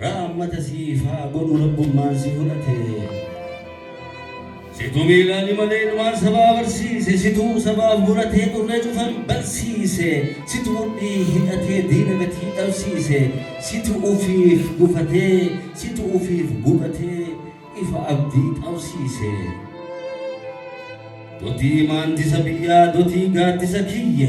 Raammata siif haa godhu rabbummaan si fudhate Situ miilaani malee dhumaan sabaa barsiise Situu sabaaf muratee dhurree cufan bansiise Situ mudhii hidhatee diina gatii dhabsiise Situ ufiif gufatee situ ufiif gubatee ifa abdii qabsiise Dotii maantisa biyyaa dotii gaaddisa kiyya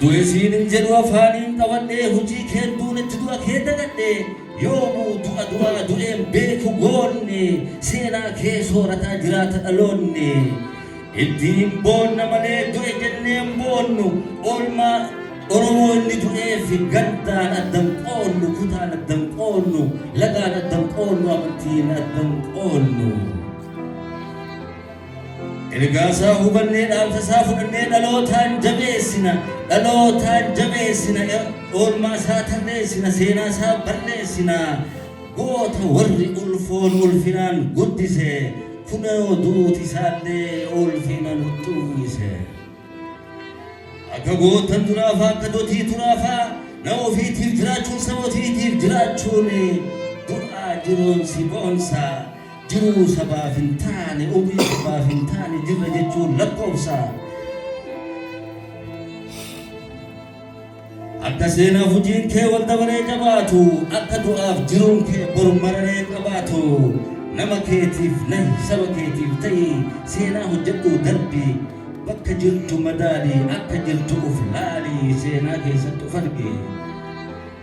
Du'e siin hin jedhu afaaniin qabadhee hujii keen duunetti du'a kee dagadhe yoomuu du'a du'aa du'een beeku goonni seenaa kee soorataa jiraata dhaloonni ittiin boonna malee du'e jenneen boonnu oolmaa Oromoo inni du'eef gandaan addan qoonnu kutaan addan qoonnu lagaan addan qoonnu amantiin addan qoonnu. Ergaasaa hubannee dhaamsasaa fudhannee dhalootaan jabeessina dhalootaan jabeessina oolmaasaa tarreessina seenaasaa balleessina goota warri ulfoon ulfinaan guddise kunoo duuti isaallee ulfina nutti uwwise. Akka gootan duraafaa akka dotii turaafaa nama ofiitiif jiraachuun saba ofiitiif jiraachuun du'aa jiruun si boonsa. Jiruu sabaaf hin taane ofii sabaaf hin taane jirra jechuun lakkoofsa. Akka seenaa hojiin kee wal dabaree jabaatu akka du'aaf jiruun kee bor mararee qabaatu nama keetiif nahi saba keetiif ta'i seenaa hojjedhu darbi bakka jirtu madaali akka jirtu of laali seenaa keessatti of arge.